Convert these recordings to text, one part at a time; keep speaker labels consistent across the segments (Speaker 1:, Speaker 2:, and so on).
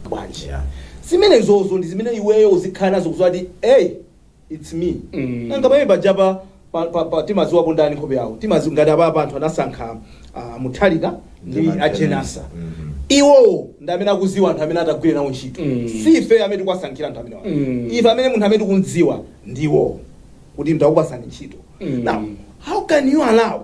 Speaker 1: bwanji Yeah. zimenezozo ndi zimene iweyo uzikhala nazo kuziwa kuti hey its me Mm. nanga pamene pajapa pa- pa- pa- timaziwapo ndani nkhope yawo timazi ngati apapa anthu anasankha a Mutharika ndi Ndi a Jane Ansah. a Jane Ansah Mhm. iwowo ndi amene akuziwa anthu amene atagwire nawo ntchito Mm. si ife amene tikuwasankhira anthu amene Mm. ife amene munthu amene tikumdziwa ndi iwowo kuti ndakupasani ntchito Mm. now how can you allow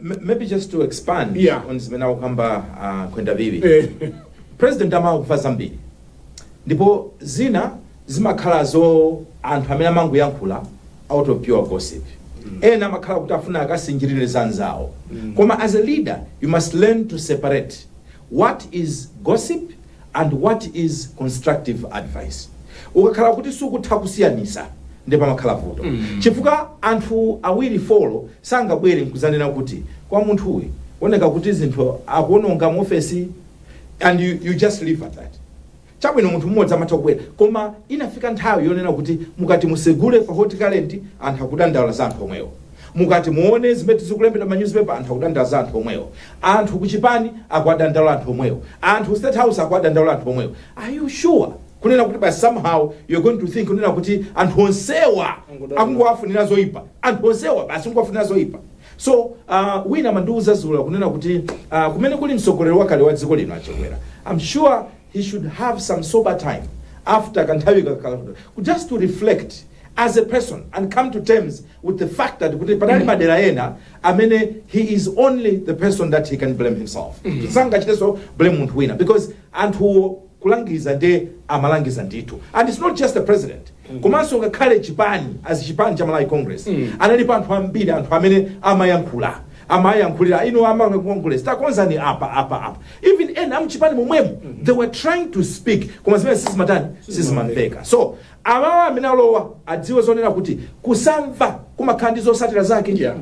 Speaker 2: Maybe just to expand yeah. on zimene akukamba uh, Kwenda Biwi eh. President amakumva zambiri ndipo zina zimakhala za anthu amene amangoyankhula out of pure gossip mm. ena amakhala kuti afuna akasinjirire za anzawo mm. koma as a leader you must learn to separate What is gossip and what is constructive advice? Ukakhala kuti sukutha kusiyanisa nde pamakhala vuto chifukwa anthu awiri folo sangabwere nkuzanena kuti kwa munthu uyu zikuoneka kuti zinthu akuononga mu ofesi and you, you just leave at that Chabwino, munthu mmodzi amatha kubwera, koma inafika nthawi yonena kuti mukati musegule pa Hot Current, anthu akudandaula za anthu omwewo. Mukati muone zimene zikulembedwa m'manyuzipepa, anthu akudandaula za anthu omwewo. Anthu ku chipani akuwadandaula anthu omwewo. Anthu ku state house akuwadandaula anthu omwewo. Are you sure kunena kuti basi somehow you're going to think kunena kuti anthu onsewa akungowafunira zoipa? Anthu onsewa basi kungowafunira zoipa? So uh, wina amandiuza zulo kunena kuti uh, kumene kuli mtsogoleri wakale wa dziko lino a Chakwera I'm sure he should have some sober time after kanthawi kakala just to reflect as a person and come to terms with the fact that kuti panali madera ena amene he is only the person that he can blame himself sangachiteso blame munthu wina because anthuwo kulangiza nde amalangiza ndithu and its not just the president komanso ngakhale chipani as chipani cha malawi congress analipo anthu ambiri anthu amene amayankhula amayankhulira inu a Malawi congress takonzani apa apa apa even ena amchipani momwemo they were trying to speak koma zimenezo sizimatani sizimamveka so Awawa amene alowa adziwe zonena kuti kusamva kumakhala ndi zosatira zake. Yeah.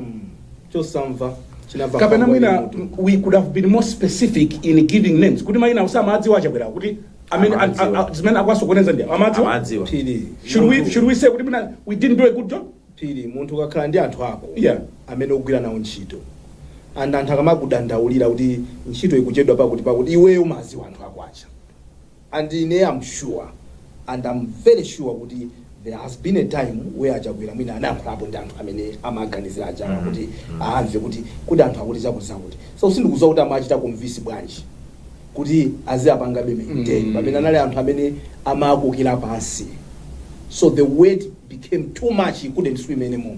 Speaker 1: Chosamva chinamva
Speaker 3: kapena nkhwangwa mwina ili m'mutu. we could have been more specific in giving names kuti maina usa amadziwa a Chakwera kuti amene a- a- Amadziwa. a- zimene akwasokoneza ndi amadziwa Amadziwa. Phiri. should we should we say kuti mwina we didn't do a good job Phiri, munthu
Speaker 1: ukakhala ndi anthu ako Yeah. amene ogwira nawo ntchito and anthu akamakudandaulira kuti ntchito ikuchedwa pakuti pakuti iweyo umadziwa anthu ako aja And ine am sure and am very sure kuti there has been a time where a Chakwera mwina anayankhulapo ndi anthu amene amaganizira ajawa kuti amve kuti kodi anthu akuti zakuti zakuti. So sindikudziwa kuti amachita convince bwanji kuti aziapangabe maintain pamene anali anthu amene amakokera pansi. So the weight became too much, he couldn't swim anymore.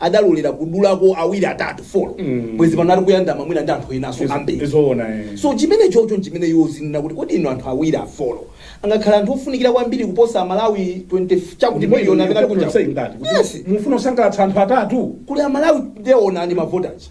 Speaker 1: adalolera kudulako awiri atatu folo Mm. bwezi pano ali kuyandama mwina ndi anthu enaso Izo- ambiri izoona eh. so chimene chocho nchimene iwo zinena kuti kodi inu anthu awiri afolo angakhala anthu ofunikira kwambiri kuposa amalawi 20 chakuti Ndipo miliyoni inu amene ali ndikuti kunja saying that, kuti Yes. mufuna kusangalatsa
Speaker 3: anthu atatu kuli amalawi
Speaker 1: nde onani mavotichi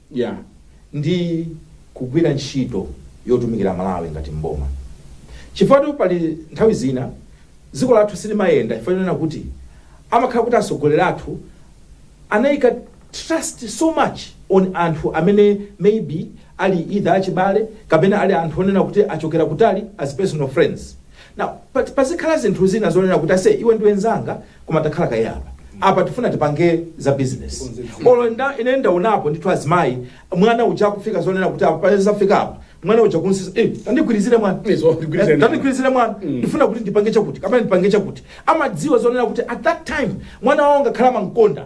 Speaker 2: ya ndi kugwira ntchito yotumikira Malawi ngati m'boma chifukwa pali nthawi zina dziko lathu silimayenda chifukwa chonena kuti amakhala kuti atsogoleri athu anaika trust so much on anthu amene maybe ali either achibale kapena ali anthu onena kuti achokera kutali as personal friends Now pat pazikhala zinthu zina zonena kuti ase iwe ndiwe nzanga koma takhala kaye apa apa tifuna tipange za business olo ine ndaonapo ndithu azimayi mwana uja akufika zonena kuti apa pamene zafika apa mwana uja kunsisa eh, tandigwirizire mwana Izo, tandigwirizire Eh, tandigwirizire mwana ndifuna kuti ndipange chakuti kapena ndipange chakuti amadziwa zonena kuti at that time mwana wawo angakhale amamkonda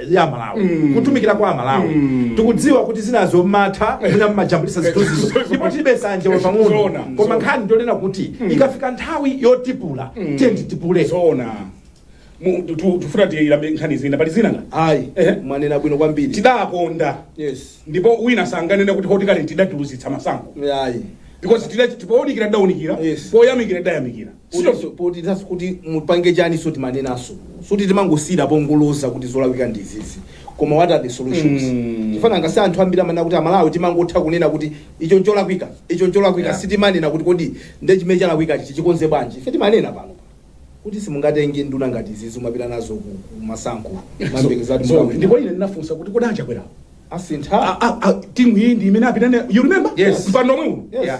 Speaker 2: ya malawi kutumikira kwa amalawi tikudziwa kuti zinazo mmatha mwina mmajambulisa zithunzizo ndipo tilibe sanje wa pang'ono Zoona, koma zoona. nkhani ndi yonena kuti ikafika nthawi yotipula tiyeni titipule zoona
Speaker 3: Mu- tu- tu- tufuna tiyilambalale nkhani zina pali zina nga ayi Ehe.
Speaker 1: mwanena bwino kwambiri
Speaker 3: tidaponda yes
Speaker 1: ndipo wina sanganene
Speaker 3: kuti Hot Current idatiluzitsa masankho ayi because
Speaker 1: tida-
Speaker 3: pounikira tidaunikira Yes. poyamikira tidayamikira Sichoncho,
Speaker 1: potithanso kuti mupange chani so timanenanso sikuti timangosiyira pongoloza kuti zolakwika ndi izizi koma what are the solutions Mm. chifukwa nanga si anthu ambiri amanena kuti amalawi timangotha kunena kuti icho ncholakwika icho ncholakwika Yeah. sitimanena kuti kodi nde chimene chalakwika chichi tichikonze bwanji ife timanena pano kuti simungatenge nduna ngati izizi kumapita nazo ku ku masankho nkumayembekeza kuti So, ndipo mukawina ine ndinafunsa
Speaker 3: kuti kodi achakwera asintha
Speaker 1: timu iyi
Speaker 3: ndi imene apita nayo you remember Yes. mpando omwe uno Yes. Yeah.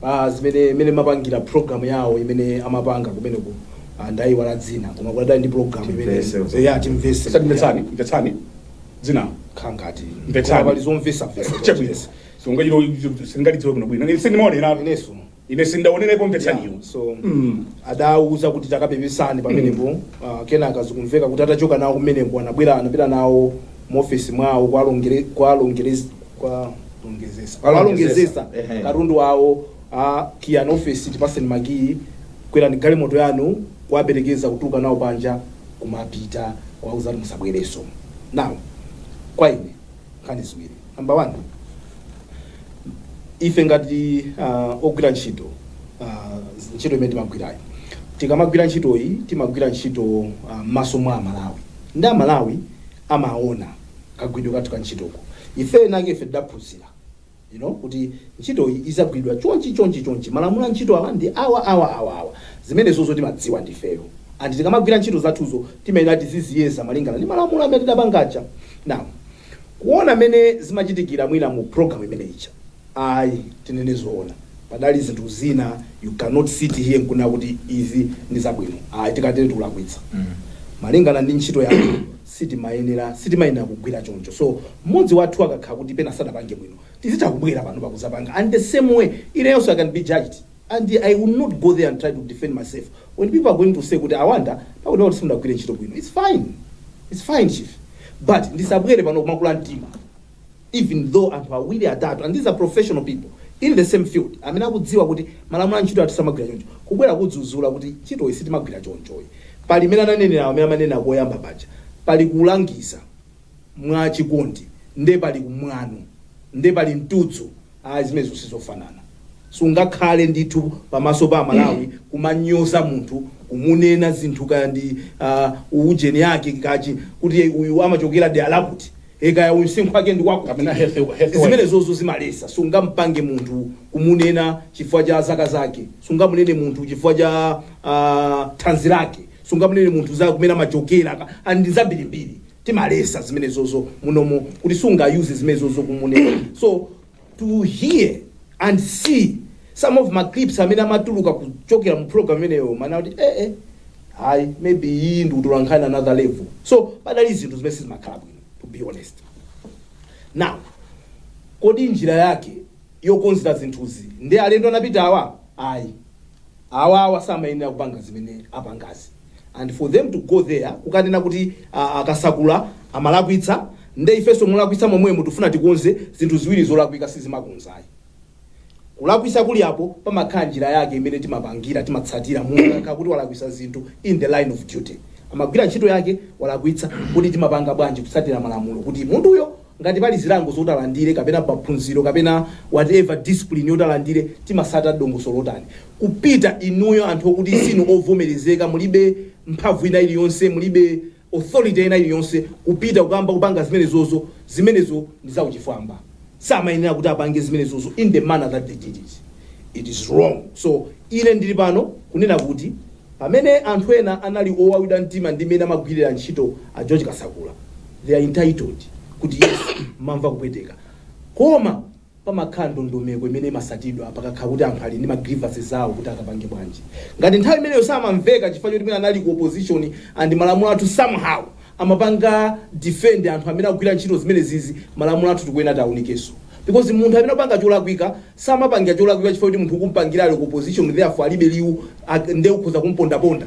Speaker 1: Pa zimene mene amapangira program yawo imene amapanga kumeneko ah, ndaiwala dzina koma kudali program imene Timvese uko. ya timvese Sasa mvetsani, mvetsani.
Speaker 3: Dzina. kukhala
Speaker 1: ngati Mvetsani. pali zomvesa
Speaker 3: vesa
Speaker 1: Chabwino. Nanga ilo
Speaker 3: singalidziwe kuno bwino. Ine sindimaonera. inenso Ine sindaonerepo mvetsani ilo. so
Speaker 1: Mm. adauza kuti takapepesani pamenepo ah, kenaka zikumveka kuti atachoka nawo kumeneko anabwera anapita nawo mu office mwawo kwalongere kwalongere kwalongezesa Kwalongezesa. Ehe. katundu wawo kiyani ofesi tipatseni makiyi kwerani galimoto yanu kuwaperekeza kutuluka nawo panja kumapita kuwauza kuti musabwerenso now kwa ine nkhani ziwiri namba one ife ngati uh, ogwira ntchito uh, ntchito imene timagwirayo tikamagwira ntchitoyi timagwira ntchito uh, m'maso mwa amalawi ndi amalawi amaona kagwiridwe kathu ka ntchitoko ife enake ife tidaphunzira you know kuti ntchitoyi izagwiridwa chonchi chonchi chonchi malamulo a ntchito awa ndi awa awa awa awa zimenezozo timadziwa ndifeyo and tikamagwira ntchito zathuzo timayenera tiziziyeza malingana ndi malamulo amene tidapangaja now kuona mmene zimachitikira mwina mu program imene ija Ayi tinene zoona padali zinthu zina you cannot sit here nkunena kuti izi ndi zabwino ayi tikatero tikulakwitsa malingana ndi ntchito yathu sitimayenera sitimayenera kugwira choncho so mmodzi wathu akakhala kuti pena sadapange bwino tizitha kubwera panopa kuzapanga and the same way ineyonso I can be judged and I will not go there and try to defend myself when people are going to say kuti awanda pakuti kuti simudagwire ntchito bwino it's fine it's fine chief but ndisabwere pano kumakakula mtima even though anthu awiri atatu and these are professional people in the same field amene akudziwa kuti malamulo a ntchito ati sitimagwira choncho kubwera kudzudzula kuti ntchitoyi sitimagwira chonchoyi pali imene ananenera amene amanena koyamba paja pali kulangiza mwa chikondi nde pali mwano nde pali mtudzu zimenezo sizofanana sungakhale ndithu pamaso pa amalawi kumanyoza munthu kumunena zinthu kaya ndi uh, ujeni yake kaya kuti uyu amachokera dera lakuti e Kaya uyu msinkhu wake ndi wakuti, kapena health health wise. zimenezozo timaletsa. Sungampange munthu kumunena chifukwa cha zaka zake, sungamunene munthu chifukwa cha ah, thanzi lake, sungamunene munthu za kumene amachokera ka- ah, ndi zambirimbiri. Timaletsa zimenezozo munomo kuti sungayuze zimenezozo kumunena. So to hear and see some of ma clips amene amatuluka kuchokera mu program imeneyo umaona kuti eh eh hayi maybe iyi ndi kutola nkhani another level so padali zinthu zimene sizimakhala bwino to be honest now kodi njira yake yokonzera zinthuzi ndi alendo anapita awa ayi awawa samayenera kupanga zimene apangazi and for them to go there kukanena kuti a Kasakula amalakwitsa nde ifeso molakwitsa momwemo tifuna tikonze zinthu ziwiri zolakwika sizimakonza ayi kulakwitsa kulipo pamakhala njira yake imene timapangira timatsatira munthu akakhala kuti walakwisa zinthu in the line of duty amagwira ntchito yake walakwitsa kuti timapanga bwanji kutsatira malamulo kuti munthuyo Ngati pali zilango zoti alandire kapena maphunziro kapena whatever discipline yoti alandire timasata dongosolo lotani kupita inuyo anthu okuti sinu ovomerezeka mulibe mphamvu ina iliyonse mulibe authority ina iliyonse kupita kukamba kupanga zimenezozo zimenezo ndi za uchifwamba samayenera kuti apange zimenezozo in the manner that they did it it is wrong so ine ndili pano kunena kuti Pamene anthu ena anali owawidwa mtima ndi mmene amagwirira ntchito a George Kasakula, they are entitled kuti yes mumamva kupweteka koma pamakhala ndondomeko imene imasatidwa pakakhala kuti anthu ali ndi ma grievances awo kuti akapange bwanji. Ngati nthawi imeneyo samamveka chifukwa choti mmene anali ku opposition and malamulo athu somehow amapanga defend anthu amene akugwira ntchito zimenezizi malamulo athu tikuyenera tiaunikeso because munthu amene akupanga cholakwika samapangira cholakwika chifukwa kuti munthu ukumpangira ali ku opposition therefore alibe liwu ak- nde ukhoza kumpondaponda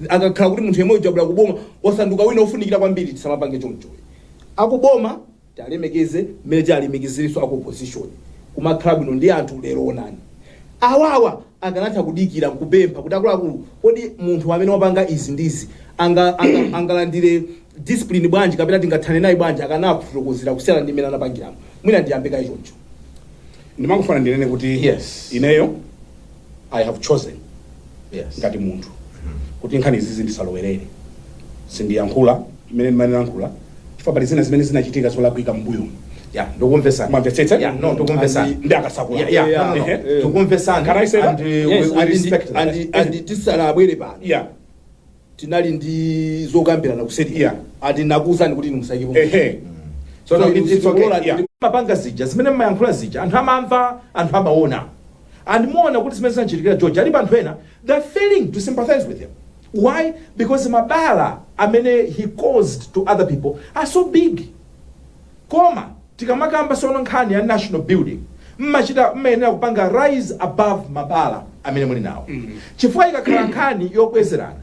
Speaker 1: akakhala kuti munthu yemwe uja ali kuboma wasanduka wina ofunikira kwambiri tisamapange choncho akuboma Tialemekeze mmene tialemekezerenso aku opposition. Kumakhala bwino ndi anthu lero onani. Awawa akanatha kudikira nkupempha kuti akuluakulu kodi munthu amene wapanga izi ndi izi anga anga angalandire discipline bwanji kapena tingathane naye bwanji akanakufotokozera kusiyana ndi mmene anapangiramu. Mwina ndiyambe kaye choncho.
Speaker 3: ndimangofuna ndinene kuti Yes. ineyo i have chosen Yes. ngati munthu kuti nkhani izizi ndisalowerere sindiyankhula mmene ndimayankhulira chifukwa pali zina zimene zinachitika zolakwika mbuyo Yeah,
Speaker 2: ndikumvesa. mwamvetsetsa Yeah,
Speaker 3: no, ndikumvesa.
Speaker 2: Andi- ndi akasakula Yeah, yeah,
Speaker 3: Yeah, no, no. ehe. Eh. Ndikumvesa.
Speaker 1: Can
Speaker 2: I
Speaker 3: say that? And, uh, Yes,
Speaker 1: we- we and-
Speaker 2: respect
Speaker 3: that. and-
Speaker 2: and tisanabwere
Speaker 3: pano. yeah
Speaker 1: tinali ndi zokambirana kuseri Yeah. ati ndakuuzani kuti inu musaikepo. ehe So
Speaker 2: tsono it's- it's okay, yeah. mmapanga zija zimene mmayankhula zija anthu amamva anthu amaona and muona kuti zimene zamuchitikira george alipo anthu ena they are failing to sympathize with him why because mabala amene he caused to other people are so big Koma tikamakamba sono nkhani ya national building mmachita mmayenera kupanga rise above mabala amene muli nawo chifukwa ikakhala nkhani yobwezerana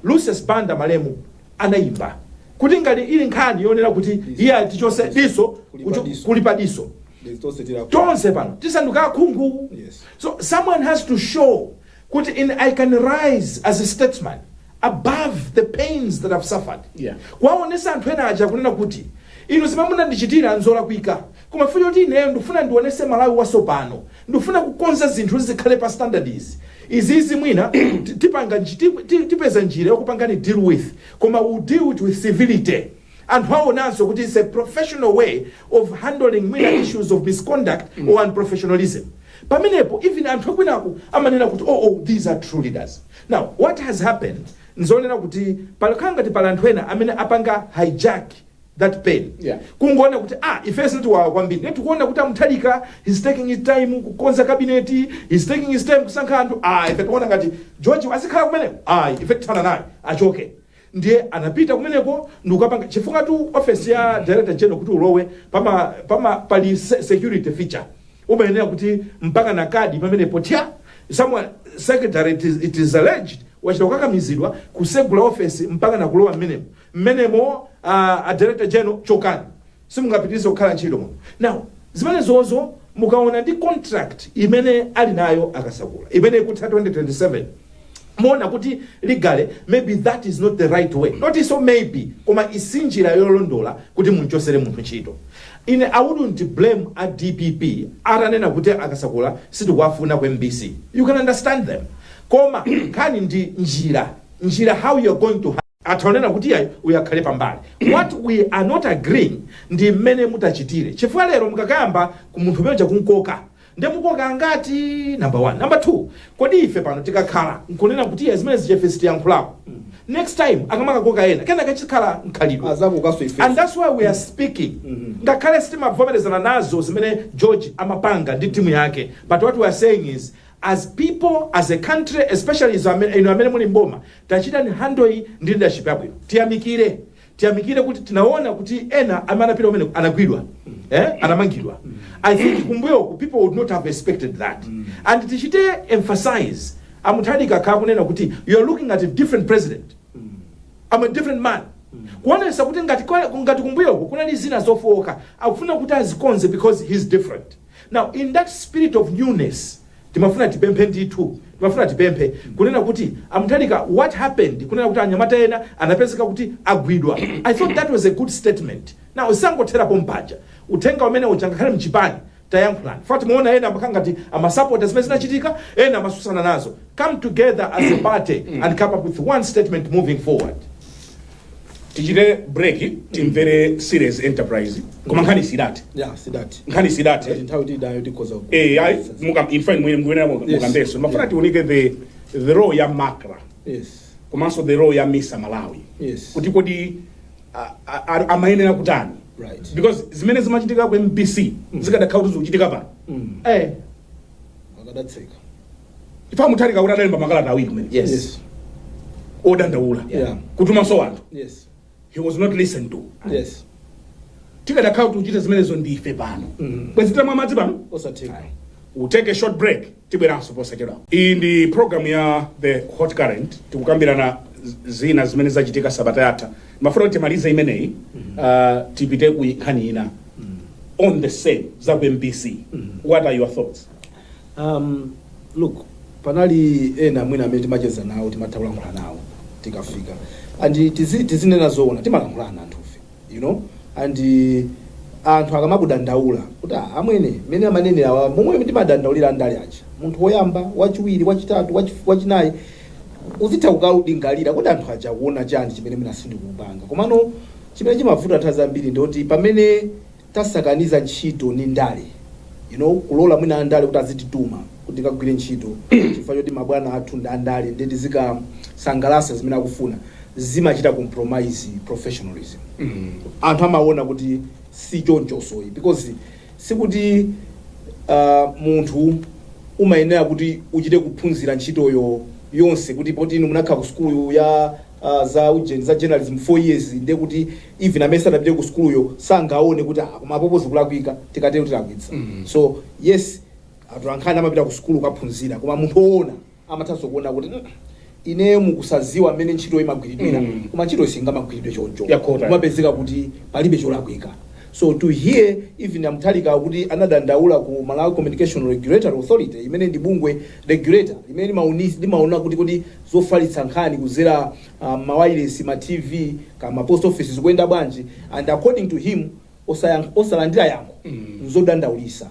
Speaker 2: Lucius Banda malemu anayimba kuti ngati ili nkhani yonena kuti iye ali tichotse diso kucho- kulipa diso There's those that are- tonse pano tisanduka akhungu Yes. so someone has to show Kuti ine I can rise as a statesman above the pains that I've suffered Yeah. kuwaonesa anthu ena aja kunena kuti inu zimene munandichitira nzolakwika koma chifukwa choti ineyo ndikufuna ndionese malawi wasopano ndikufuna kukonza zinthu kuti zikhale pa standards izi izizi mwina ti- tipanga nji- ti- ti- tipeza njira yokupangani deal with koma we deal with civility anthu awonanso kuti its a professional way of handling minor issues of misconduct or unprofessionalism pamenepo even anthu akwinaku amanena kuti oh, oh these are true leaders now what has happened nzonena kuti pakhala ngati pali anthu ena amene apanga hijack that pain Yeah. kungoona kuti ah ife zitiwawa kwambiri ne tikuona kuti amuthalika he's taking his time kukonza kabineti he's taking his time kusankha anthu ah ife tikuona ngati george azikhala kumeneko ah ife tithana naye achoke Ndiye anapita kumeneko ndikukapanga chifukwatu ofesi ya director general kuti ulowe pama pama pali security feature umayenera kuti mpaka na kadi pamenepo thya someone secretary it is, it is alleged wachita kukakamizidwa kusegula ofesi mpaka na kulowa mmenemo mmenemo uh, a director general chokani Simungapitilize kukhala ntchito muno now zimenezozo mukaona ndi contract imene ali nayo a Kasakula imene ikutha 2027 muona kuti legally maybe that is not the right way not so maybe koma sinjira yolondola kuti munchosere munthu ntchito ine I wouldn't blame a dpp atanena kuti a Kasakula sitikuwafuna ku mbc you can understand them koma nkhani ndi njira njira how you're going to atha kunena kuti iyayi uyu akhale pambali what we are not agreeing ndi mmene mutachitire chifukwa lero mukakayamba ku munthu umene uja kumkoka nde mukoka angati number one number two kodi ife pano tikakhala nkunena kuti iyayi zimenezi ife sitiyankhulapo next time akamakakoka ena kena kadzakhala mkhalidwe adzakokanso ife and that's why we are speaking ngakhale sitimavomerezana nazo zimene george amapanga ndi timu yake but what we are saying is as people, as a country, especially izo amene, inu amene muli m'boma, tachitani handle iyi ndi leadership yabwino. Tiyamikire, tiyamikire kuti tinaona kuti ena amene anapita kumene anagwidwa, eh, anamangidwa. I think kumbuyoku people would not have expected that. And tichite emphasize, A Mutharika akhala kunena kuti you are looking at a different president. I'm a different man kuonesa kuti ngati kwa- ngati kumbuyoku kunali zina zofowoka akufuna kuti azikonze because he's different Now in that spirit of newness timafuna tipemphe ndithu timafuna tipemphe kunena kuti a Mutharika what happened kunena kuti anyamata ena anapezeka kuti agwidwa I thought that was a good statement. Now zisangothera pompaja uthenga umene uja ngakhale mchipani tayankhulani facts muona ena amakhala ngati amasapota zimene zinachitika ena amatsutsana nazo come together as a party and come up with one statement moving forward.
Speaker 3: tichite break timvere Serious Enterprise koma nkhani sidathe ya sidathe nkhani sidathe Ngati nthawi tili nayo tikhoza
Speaker 1: ku- eh ayi muka in
Speaker 3: fact mwene mwene Yes. mukambenso mmafuna Yeah. tiunike the the role ya Macra yes komanso the role ya misa malawi yes kuti kodi a- a- a- amayenera kutani Right. because zimene zimachitika ku mbc zikadakhala kuti zikuchitika pano eh
Speaker 1: akadatseka
Speaker 3: chifukwa Mutharika kuti adalemba makalata awiri kumene Yes. Yes. odandaula Yeah. kutumanso anthu Yes. he was not listened to Yes. tikadakhala kuti tikuchita zimenezo ndi ife pano Mhm. bwezi titamwa madzi pano Osatheka.
Speaker 1: We'll take a short
Speaker 3: break tibweranso posachedwa iyi ndi program ya the hot current tikukambirana z- zina zimene zachitika sabata yatha timafuna kuti timalize imeneyi uh, tipite ku nkhani ina on the same za ku mbc what are your thoughts
Speaker 1: Um, look, panali ena mwina amene timacheza nawo timatha kulankhula nawo tikafika and tizi- tizinena zoona timalankhulana anthufe you know and uh, anthu akamakudandaula kuti "Ah, amwene mene amanenera awa momwe timadandaulira ndale aja munthu woyamba wachiwiri wachitatu wachi- wachinayi uzitha kukalingalira kuti anthu aja akuona chani chimene mwina sindikupanga komano chimene chimavuta nthawi zambiri ndikuti pamene tasakaniza ntchito ndi ndale you know kulola mwina andale kuti azitituma kuti tikagwire ntchito chifukwa choti mabwana athu ndi andale ndiye tizikasangalasa zimene akufuna zimachita compromise professionalism anthu amaona kuti si chonchosoyi because sikuti uh, munthu umayenera kuti uchite kuphunzira ntchitoyo yonse kuti poti inu munakhala ku sukulu ya aah za ujeni za journalism 4 years ndiye kuti even amene sadapite ku sukuluyo sangaone kuti aah koma apopo zikulakwika tikatero tilakwitsa so yes atolankhani amapita ku sukulu kukaphunzira koma munthu woona amathanso kuona kuti "Mm, ineyo mkusaziwa mmene ntchito imagwiridwira Mm. koma ntchitoyi singamagwiridwe choncho Yakota. kumapezeka kuti palibe cholakwika so to hear even a Mtalika kuti anadandaula ku malawi communication regulatory authority imene ndi bungwe regulator limene limauni- limaona kuti kodi zofalitsa nkhani kuzera uh, mawayilesi ma tv kama post office zikuyenda bwanji and according to him osayank- osalandira yankho nzodandaulisa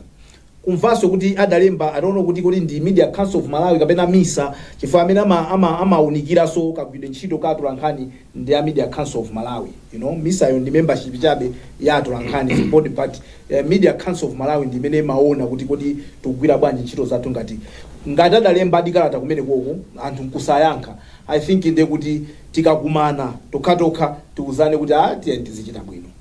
Speaker 1: kumvanso kuti adalemba adati kuti kodi ndi media council of malawi kapena misa chifukwa amene ama- ama- amaunikiranso kagwiridwe ntchito ka atolankhani ndi a media council of malawi you know misa yo ndi membership chabe ya atolankhani support but eh, media council of malawi ndi imene imaona kuti kodi tikugwira bwanji ntchito zathu ngati ngati adalembadi kalata kumene koko anthu nkusayankha i think nde kuti tikakumana tokhatokha tiuzane kuti a tiyeni tizichita bwino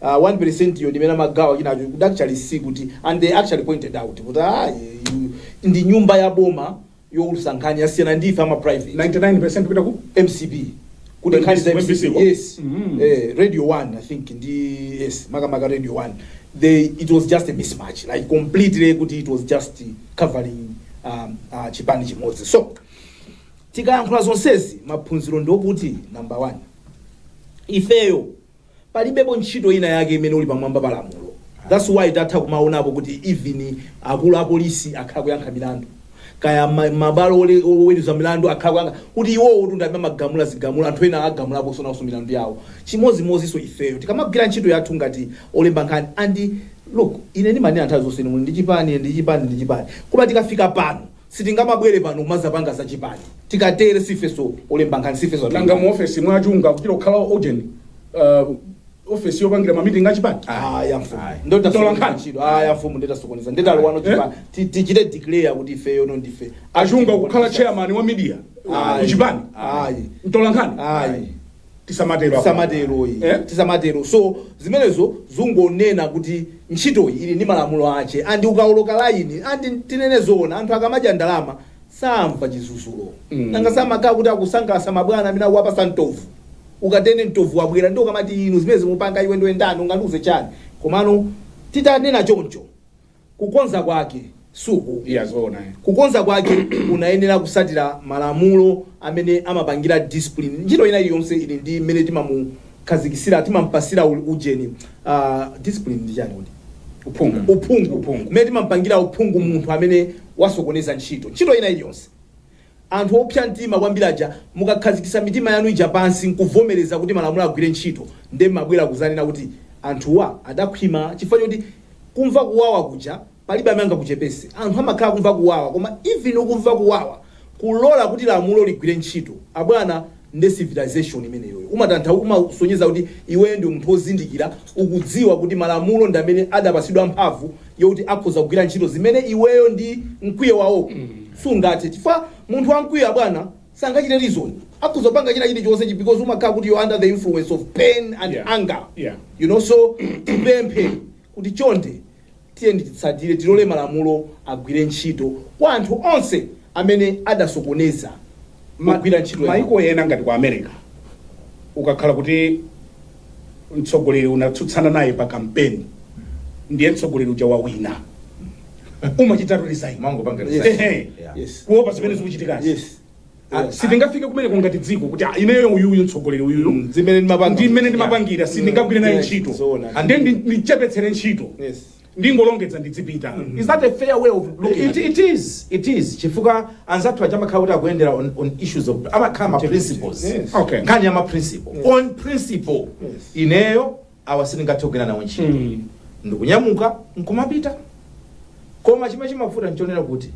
Speaker 1: uh, 1% yo ndimene amagawana enawo could actually see kuti and they actually pointed out kuti ah, you- ndi nyumba ya boma youlusa nkhani yasiyana ndi ife ama private 99% kupita ku
Speaker 3: mcp
Speaker 1: kuti When nkhani za this- when this mcp was- yes Mhm. eh, radio 1 i think ndi yes makamaka radio 1 they it was just a mismatch like completely kuti it was just covering um, uh, chipani chimodzi so tikayankhula zonsezi maphunziro ndiokuti number 1 ifeyo Palibepo ntchito ina yake imene uli pamwamba pa lamulo thats why takhala kumaonapo kuti even akulu apolisi akhala kuyankha milandu kaya mabwalo oweluza milandu akhala kuyankha kuti iwowotu ndi amene amagamula zigamulo anthu ena agamulaponso naonso milandu yawo chimodzimodzinso ifeyo tikamagwira ntchito yathu ngati olemba nkhani and look ine ndimanena nthawi zonse inu muli ndi chipani ine ndili ndi chipani ndi chipani koma tikafika pano Sitingamabwere pano kumazapanga za chipani tikatere sifeso olemba nkhani sifeso atolankhani. Nanga mu ofesi mwa
Speaker 3: Chunga kuchita kukhala ujeni uh, ofesi yopangira ma meeting a chipani? Ayi amfumu Ayi. nde
Speaker 1: Tola tasokoneza nkhani. ntchito ayi amfumu nde tasokoneza nde talowano Eh? chipani Ti- tichite declare kuti ifeyo no ndife Achunga kukhala
Speaker 3: chairman wa media Ayi. ku chipani? Ayi. Mtolankhani? ayi tisamatero apa.
Speaker 1: tisamatero iyi Eh? tisamatero so zimenezo zungonena kuti ntchitoyi ili ndi malamulo ache and ukaoloka laini and tinene zoona anthu akamadya ndalama samva chidzudzulo Mm. nanga samakhala kuti akusangalasa mabwana amene akuwapasa mtovu ukatere mtovu wabwera nde ukamati inu zimene mukupanga iwe ndiwe ndani ungandiuze chani komano titanena choncho Kukonza kwake, suku, iya zoona eh. Kukonza kwake unayenera kusatira malamulo amene amapangira discipline. Ntchito ina iliyonse ili ndi mmene timamukhazikisira, timampasira u- ujeni. Uh, discipline ndi chani kuti? Uphungu. Uphungu. Uphungu. Mmene timampangira uphungu munthu amene wasokoneza ntchito. Ntchito ina iliyonse. Anthu opsa mtima kwambiri aja mukakhazikitsa mitima yanu ija pansi nkuvomereza kuti malamulo agwire ntchito nde mmabwera kuzanena kuti anthuwa adakhwima chifukwa choti kumva kuwawa kuja palibe amene angakuchepese. Anthu amakhala akumva kuwawa koma even ukumva kuwawa kulola kuti lamulo ligwire ntchito abwana. nde civilization imeneyoyo umatanthau umasonyeza kuti iweyo ndi munthu ozindikira ukudziwa kuti malamulo ndi amene adapasidwa mphamvu yokuti akhoza kugwira ntchito zimene iweyo ndi mkwiyo wako sungathe chifukwa munthu wamkwiyo abwana sangachite reason akhoza kupanga china chilichonse because umakhala kuti you're under the influence of pain and Yeah. anger Yeah. you know so tipemphe kuti chonde Tiyeni titsatire, tilole malamulo agwire ntchito kwa anthu onse amene adasokoneza magwiridwe a ntchito. Maiko ena ngati ku America
Speaker 3: ukakhala kuti mtsogoleri unatsutsana naye pa kampeni ndiye mtsogoleri uja wawina umachitatu resign Umangopanga resign. Ehe. Yeah.
Speaker 2: Yes. kuopa zimene
Speaker 3: zikuchitikazi Yes. Ah, sitingafike kumeneko ngati dziko kuti ah, ineyo uyuyu mtsogoleri uyuyu Mm, zimene ndimapanga. ndi mmene ndimapangira
Speaker 1: sindingagwire
Speaker 3: naye Yeah, ntchito zoona. And then ndi-
Speaker 1: ndichepetsere
Speaker 3: ntchito Yes. ndingolongedza ndidzipita is that a fair way of looking at it, it? it is it is chifukwa
Speaker 2: anzathu aja amakhala kuti akuyendera on, on issues of amakhala ma principles Yes. Okay. nkhani ya ma
Speaker 1: principle
Speaker 2: on principle Yes. ineyo awa sindingathe kugwira nawo ntchito Mm. ndikunyamuka nkumapita koma chimene chimavuta nchonena kuti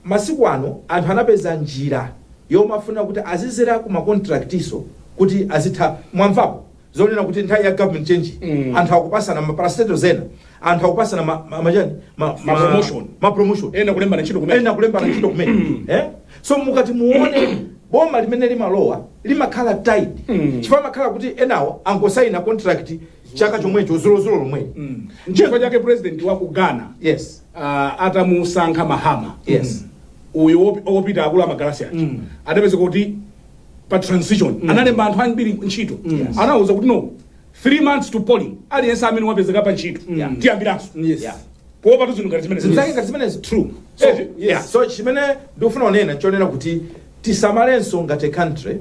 Speaker 2: masiku ano anthu anapeza njira yomafuna kuti azidzera ku makontraktiso kuti azitha mwamvapo zonena kuti nthawi ya government change Mm. anthu akupasana maparastato zena anthu akupasana ma, ma, ma, chani? ma, ma, Ma promotion. ma promotion ena kulembana ntchito kumene
Speaker 3: ena kulembana ntchito kumene eh? so
Speaker 2: mukati muone boma limene limalowa limakhala tight Mm. chifukwa amakhala kuti enawo angosaina contract chaka chomwecho dzulodzulo lomwe Mm. nchifukwa
Speaker 3: chake president wa ku ghana yes
Speaker 2: ah,
Speaker 3: atamusankha mahama
Speaker 2: yes uyu
Speaker 3: wopi- wopita akulu a magalasi aja Mm. adapeza kuti pa transition analemba anthu ambiri ntchito Yes. anawuza kuti no 3 months to polling aliyense amene wapezeka pa ntchito Yeah. tiyambiranso Yes. Yeah. kuopatu zinthu ngati zimene zimzake ngati zimenezo true so,
Speaker 2: Eh, yes. yeah. so chimene ndikufuna kunena nchonena kuti tisamalenso ngati a country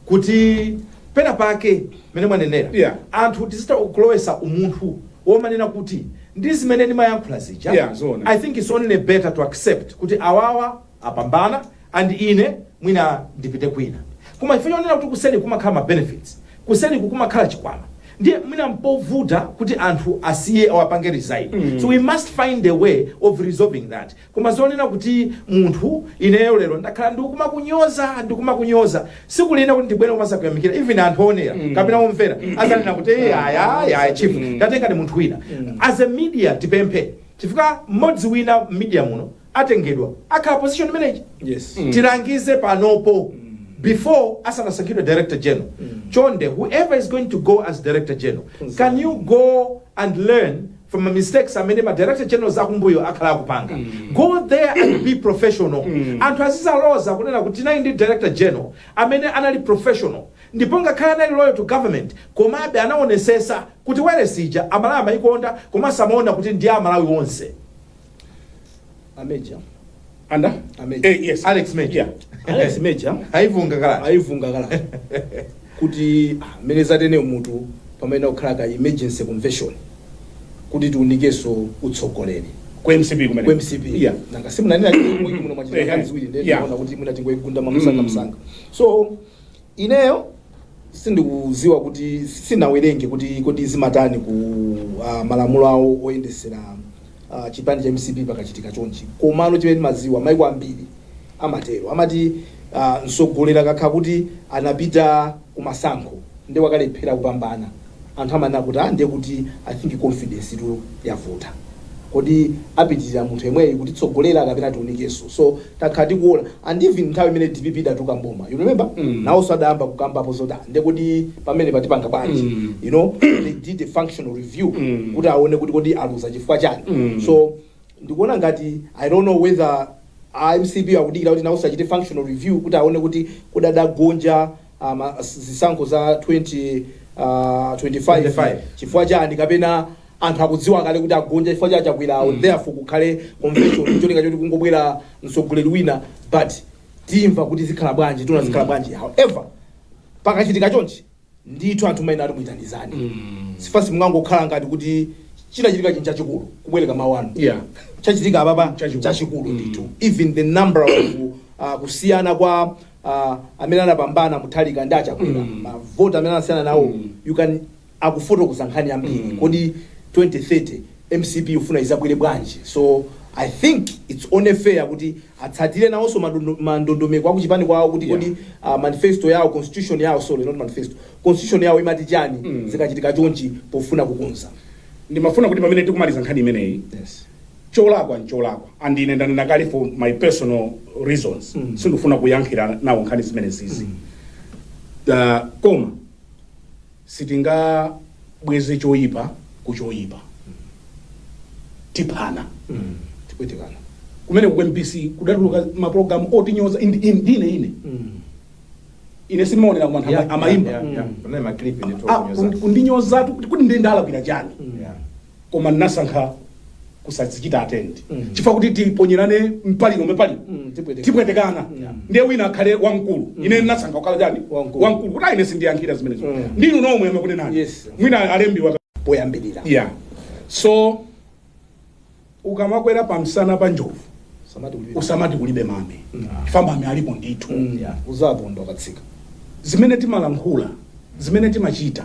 Speaker 2: kuti pena pake mene mwanenera Yeah. anthu tizita kulowesa umunthu womanena kuti ndi zimene ndimayankhula zija Yeah, zoona. i think it's only better to accept kuti awawa apambana and ine mwina ndipite kwina koma chifukwa chonena kuti kuseri kumakhala ma benefits kuseriku kumakhala chikwama ndiye mwina mpovuta kuti anthu asiye awapange resign so we must find a way of resolving that koma zonena kuti munthu ineyo lero ndakhala ndikumakunyoza ndikumakunyoza siku lina kuti ndibwere kumazakuyamikira even anthu owonera kapena omvera azanena kuti "Eh, aya aya aya chief ndatenga ndi munthu wina as a media tipemphe chifukwa mmodzi wina media muno atengedwa akhala position imeneyi Yes. tilangize panopo before asanasankhidwe director general chonde whoever is going to go as director general can you go and learn from the mistakes amene ma director generals akumbuyo akhala akupanga go there and be professional anthu azizaloza kunena kuti tinali ndi director general amene anali professional ndipo ngakhale anali loyal to government komabe anaonesesa kuti wailesi ija Amalawi amayikonda komanso amaona kuti ndi ya Amalawi onse
Speaker 1: A Major. anda A
Speaker 3: Major. eh, yes
Speaker 2: alex major Yeah. Alex
Speaker 1: Major aivunga kale aivunga
Speaker 2: kale
Speaker 1: kuti ah, mmene zateremutu payenera kukhala ka emergency convention kuti tiunikenso utsogoleri ku
Speaker 3: mcp kumene ku mcp yeah nanga simunanena
Speaker 1: kuti muna Eh, mwachita ka ziwiri ndiye yeah. ndinaona kuti mwina tingoigunda mwamsanga Mm. msanga so Ineyo sindikuziwa kuti sindinawerenge kuti kodi zimatani ku uh, malamulo awo oyendesera uh, chipani cha mcp pakachitika chonchi komano chimene ndimaziwa maiko ambiri amatero amati uh, msogoleri akakhala kuti anapita kumasankho ndiye wakalephera kupambana Anthu amanena kuti ah ndiye kuti I think confidence-tu yavuta. Kodi apitilira munthu yemweyu kutitsogolera kapena tiunikenso. So takhala tikuona and even nthawi imene dpp idatuluka m'boma you remember naonso adayamba kukambapo zoti ah ndiye kodi pamenepa tipanga bwanji you know they did a functional review kuti aone kuti kodi aluza chifukwa chani. So ndikuona ngati I don't know whether a mcp akudikira kuti naonso achite functional review kuti aone kuti kodi adagonja ah, ma- s- zisankho za 2025 25. chifukwa chani kapena anthu akudziwa kale kuti agonja chifukwa cha chakwerawo therefore kukhale convention cholinga choti kungobwera mtsogoleri wina but timva kuti zikhala bwanji tiona zikhala bwanji however pakachitika chonchi ndithu anthu maina ali kuitanizani sikuti mungangokhala ngati kuti chinachitika chinthu chachikulu kubwereka mawu anu yeah chachitika apapa Chachikulu. chachikulu ndithu even the number of uh, kusiyana kwa ah, amene anapambana Mutharika ndi achakwera Mm. mavoti amene anasiyana nawo Mm. you can akufotokoza nkhani yambiri Mm. kodi 2030 mcp ifuna izabwere bwanji so i think its only fair kuti atsatire nawonso madondo- mandondomeko akuchipani kwawo kuti Yeah. kodi ah, manifesto yawo constitution yawo sorry not manifesto constitution yawo imati chani Mm. zikachitika chonchi pofuna kukonza ndimafuna kuti
Speaker 3: pamene tikumaliza nkhani imeneyi yes. cholakwa ncholakwa and ine ndanena kale for my personal reasons sindifuna kuyankhira nawo nkhani zimenezizi uh, koma sitingabweze choyipa ku choyipa tiphana
Speaker 1: tipwetekana kumene
Speaker 3: ku mbc kudatuluka maprogram otinyoza indi- indi- ndine ine ine sindimaonera koma anthu ama- amayimba Ah, kundi- kundinyozatu kuti kuti nde ndalakwira chani Yeah. koma ndinasankha kusadzichita attend Mm. chifukwa kuti tiponyerane mipaliro mipaliro Mm, tipwetekana. tipwetekana Yeah. ndiye wina akhale wamkulu ine ndinasankha kukhala chani Wamkulu. wamkulu kuti ine sindiyankhira zimenezo Mm. ndinu nomwe amakunenani Yes. mwina alembiwa poyambirira yeah so ukamakwera pamsana pa njovu samati kulibe usamati kulibe mame chifukwa mame alipo ndithu Mm, yeah. uzaponda
Speaker 1: ukatsika zimene
Speaker 3: timalankhula zimene timachita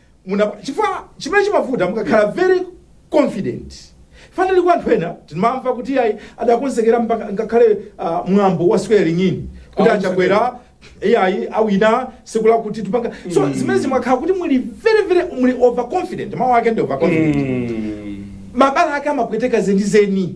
Speaker 2: muna chifukwa chimene chimavuta mukakhala very confident fanali kwa anthu ena timamva kuti ayi adakonzekera mpaka ngakhale ah, mwambo wa swearing in kuti Ah, achakwera iyayi awina tsiku lakuti tupanga so zimene zimakhala kuti muli very very muli overconfident mawu ake ndi overconfident Mm. mabala ake amapweteka zenizeni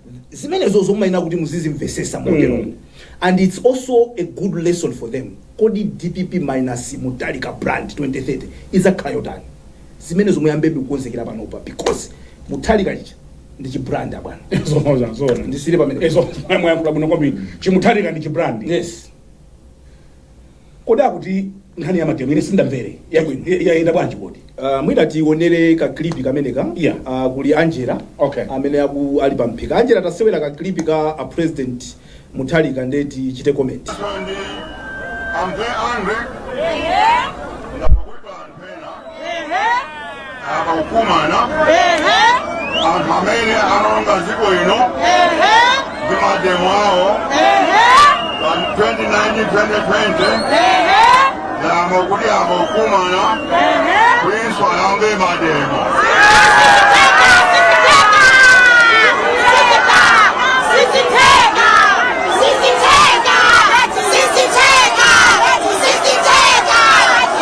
Speaker 1: zimenezozo mumayenera kuti muzizimvesesa moteromo mm. and its also a good lesson for them kodi dpp minus Mutharika brand 2030 idzakhala yotani zimenezo muyambebe kukonzekera panopa because Mutharika chicha ndi chibrand abwana zomoza zona
Speaker 3: ndisiyire
Speaker 1: pamenepo mwayankhula bwino kwambiri
Speaker 3: chiMutharika ndi chibrand yes Kodi akuti nkhani ya mademo ine sindamvere bwino Ya- yayenda bwanji kodi? Uh, mwina
Speaker 1: tionere ka clip kameneka Yeah. uh, kuli Angela Okay. amene aku ali pa mphika Angela tasewera ka clip ka a president Mutharika nde tichite comment
Speaker 4: Sunday. I'm very angry. akukumana anthu amene anaononga dziko ino ndi mademo awo pa 2019-2020 yamba kuti akukumana kutinso ayambe mademo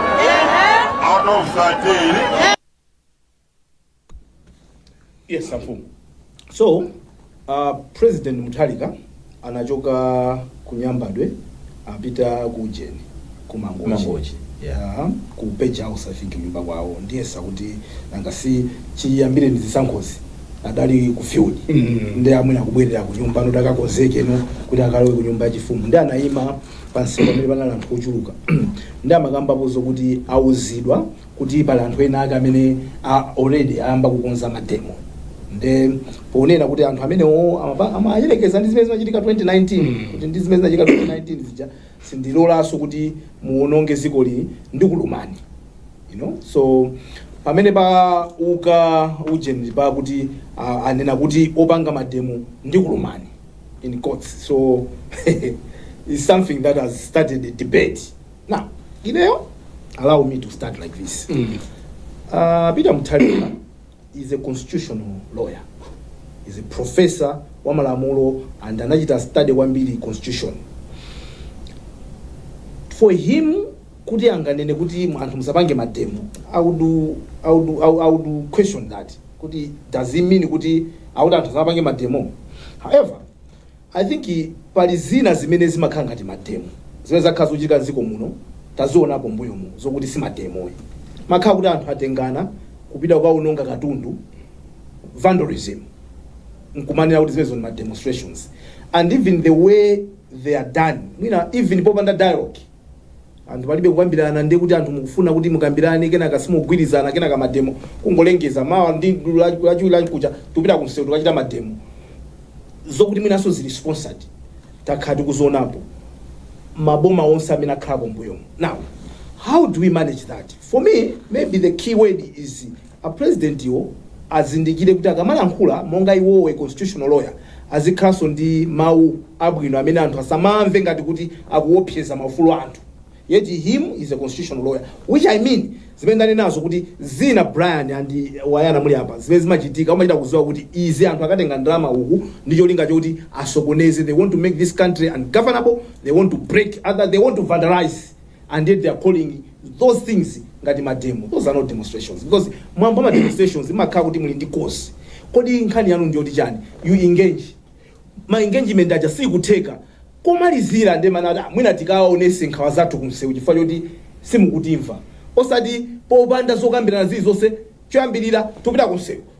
Speaker 3: out of 13. yes amfumu
Speaker 1: so uh, president mutharika anachoka kunyambadwe apita ku ujeni ku mangochi Mangochi, yeah. Ah, ku page house i think nyumba kwawo ndiyesa kuti nanga si chiyambire ndi zisankhozi adali ku field Mm. ndi amwene akubwerera ku nyumba nkuti akakonzeke nkuti akalowe ku nyumba yachifumu nde anayima pansipa pamene panali anthu ochuluka nde amakambapo zokuti auzidwa kuti pali anthu ena ake amene already ayamba kukonza mademo nde ponena kuti anthu amenewo amapa- amayerekeza ndi zimene zinachitika 2019 kuti ndi zimene zinachitika 2019 zija sindilolanso kuti muononge dziko lino ndikulumani you know so pamene pa uka ujeni pakuti ah, anena kuti opanga mademo ndikulumani in courts so is something that has started a debate now ineyo allow me to start like this uh, peter muthalika is a constitutional lawyer is a professor wa malamulo and anachita study kwambiri constitution for him kuti anganene kuti anthu musapange mademo i would, I would, I would, I would question that kuti does he mean kuti akuti anthu asamapange mademo however i think pali zina zimene zimakhala ngati mademo zimene zakhala zochitika mdziko muno tazionapo mbuyo mu zokuti si mademo ayi. makhala kuti anthu atengana kupita kukaononga katundu vandalism nkumanena kuti zimenezo ni ma demonstrations and even the way they are done mwina even popanda dialogue Anthu palibe kukambirana ndiye kuti anthu mukufuna kuti mukambirane kenaka simugwirizana kenaka mademo kungolengeza mawa ndi lachiwiri lamkucha tikupita kumsewu tikachita mademo zokuti mwinanso zili sponsored takhala tikuzionapo maboma onse amene akhalako mbuyomo now how do we manage that for me maybe the key word is A president awo azindikire kuti akamalankhula monga iwowo a constitutional lawyer azikhalanso ndi mau abwino amene anthu asamamve ngati kuti akuopseza maufulu a anthu yet him is a constitutional lawyer which I mean zimene ndanenazo kuti zina Brian and Wayana muli apa zimene zimachitika umachita kuziwa kuti izi anthu akatenga ndalama uku ndi cholinga choti asokoneze they want to make this country ungovernable they want to break other they want to vandalise and yet they are calling those things ngati ma demo. Those are not demonstrations because mwambo wa ma demonstrations imakhala kuti muli ndi cause. Kodi nkhani yanu ndiyoti chani? You engage. Ma engagement aja sikutheka. Komalizira nde mumanena ah, mwina tikaonese nkhawa zathu kumsewu chifukwa choti simukutimva. Osati popanda zokambirana zilizonse choyambirira tupita kumsewu.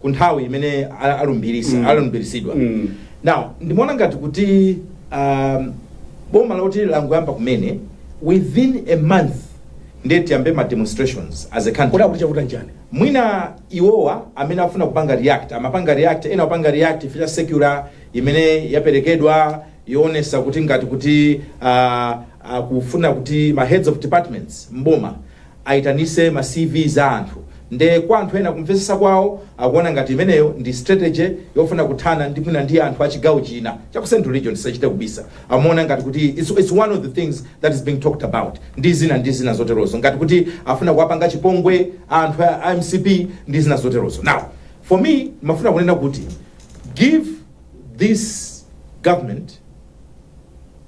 Speaker 2: ku nthawi imene a- alumbirisa Mm. alumbiritsidwa Mm. now ndimaona ngati kuti um, boma loti langoyamba kumene within a month ndiye tiyambe ma demonstrations as a country kodi akuti chakuta njani mwina iwowa amene afuna kupanga react amapanga react ena apanga react ifika circular imene yaperekedwa yoonesa kuti ngati kuti uh, uh, kufuna kuti ma heads of departments mboma aitanise ma CV za anthu nde kwa anthu ena kumvetsetsa kwawo akuona ngati imeneyo ndi strategy yofuna kuthana ndi mwina ndi anthu achigawo china cha ku central region tisachite kubisa amaona ngati kuti it's, it's one of the things that is being talked about ndi zina ndi zina zoterozo ngati kuti afuna kuwapanga chipongwe anthu a a mcp ndi zina zoterozo now for me ndimafuna kunena kuti give this government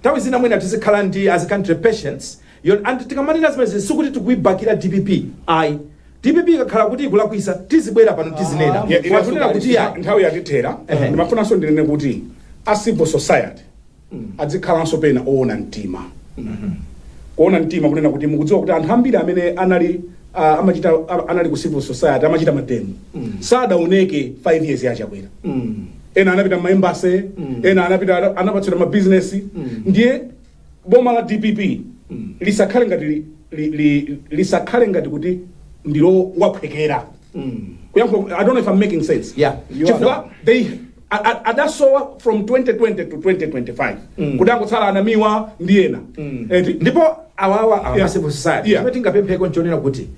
Speaker 2: Nthawi zina mwina tizikhala ndi as a country patience you know and tikamanena zimenezi sikuti tikuibakira dpp ayi. Dpp ikakhala kuti ikulakwisa tizibwera pano tizinena Yeah, koma inenso tikunena kuti ngati
Speaker 3: ayi. nthawi yatithera Ehe. ndimafunanso ndinene kuti a civil society adzikhalanso pena oona mtima kuona mtima kunena kuti mukudziwa kuti anthu ambiri amene anali ah, amachita ah, anali ku civil society amachita mademo sadaoneke 5 years ya Chakwera Mm. ena anapita ma embassy ena anapita ana- anapatsidwa mabizinesi ndiye boma la dpp lisakhale ngati li- li- li- lisakhale ngati kuti ndilo lowaphwekera kuyankhula i don't know if i'm making sense Yeah, you are.
Speaker 2: chifukwa they
Speaker 3: a- a- adasowa from 2020 to 2025 kudangotsala a Namiwa ndi ena eti ndipo
Speaker 2: awawa Yeah. a civil society Yeah. chimene tingapempheko nchonena kuti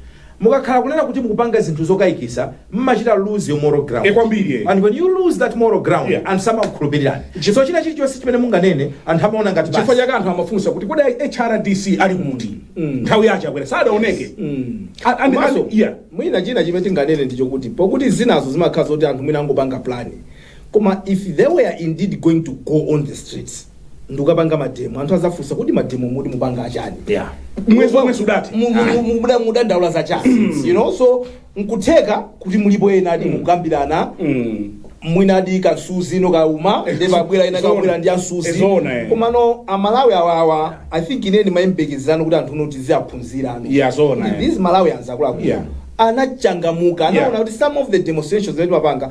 Speaker 2: Mukakhala kunena kuti mukupanga zinthu zokaikisa mmachita lose your moral ground. E kwambiri e. And when you lose that moral ground yeah. anthu samakukhulupirirani. So china chilichonse chimene munganene anthu amaona ngati basi. Chifukwa chake anthu amafunsa
Speaker 3: kuti kodi HRDC ali kuti? Mm. Nthawi ya Chakwera sadaoneke. Mm. And also
Speaker 1: yeah. Mwina china chimene tinganene nchakuti pokuti zinazo zimakhala zoti anthu mwina angopanga plan. Koma if they were indeed going to go on the streets ndi kukapanga mademo anthu azafunsa kuti mademo muti mupanga achani Yeah. mwezi
Speaker 3: womwe sudathe Mu- mu- mu- mu- muda-
Speaker 1: mudandaula za chani you know so nkutheka kuti mulipo enadi mukukambirana Mm. mwinadi kamsuzi ndiye kauma Eh, ndepabwera ena zona. kabwera ndi Eh, ansuzi zona, eh. komano amalawi awawa i think ine ndimayembekezerano kuti anthu noti ziaphunzirano Yeah, zona, eh. these malawians akuluakulu Yeah. anachangamuka anaona Yeah. kuti some of the demonstrations amapanga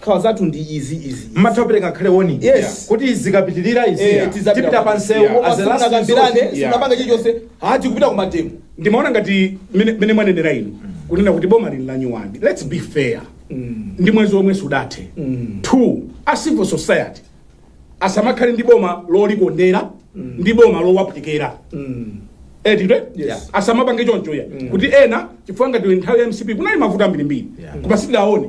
Speaker 1: Nkhawa zathu ndi izi, izi, izi. mmatha kupereka
Speaker 2: ngakhale warning Yes. kuti zikapitirira izi Eh, tidzapita tipita kwa- pa msewu Yeah. as a last Simunakambirane,
Speaker 1: resort. Yeah. simunapanga chilichonse ati kupita ku mademo ndimaona ngati
Speaker 3: mene mene mwanenera inu kunena kuti boma lili la nyuwani let's be fair ndi mwezi womwe sudathe two a civil society asamakhale ndi boma lolikondera ndi boma lowaphwekera eti Yes. asamapange choncho ya kuti ena chifukwa ngati nthawi ya mcp kunali mavuto ambirimbiri Yeah. koma sitidaone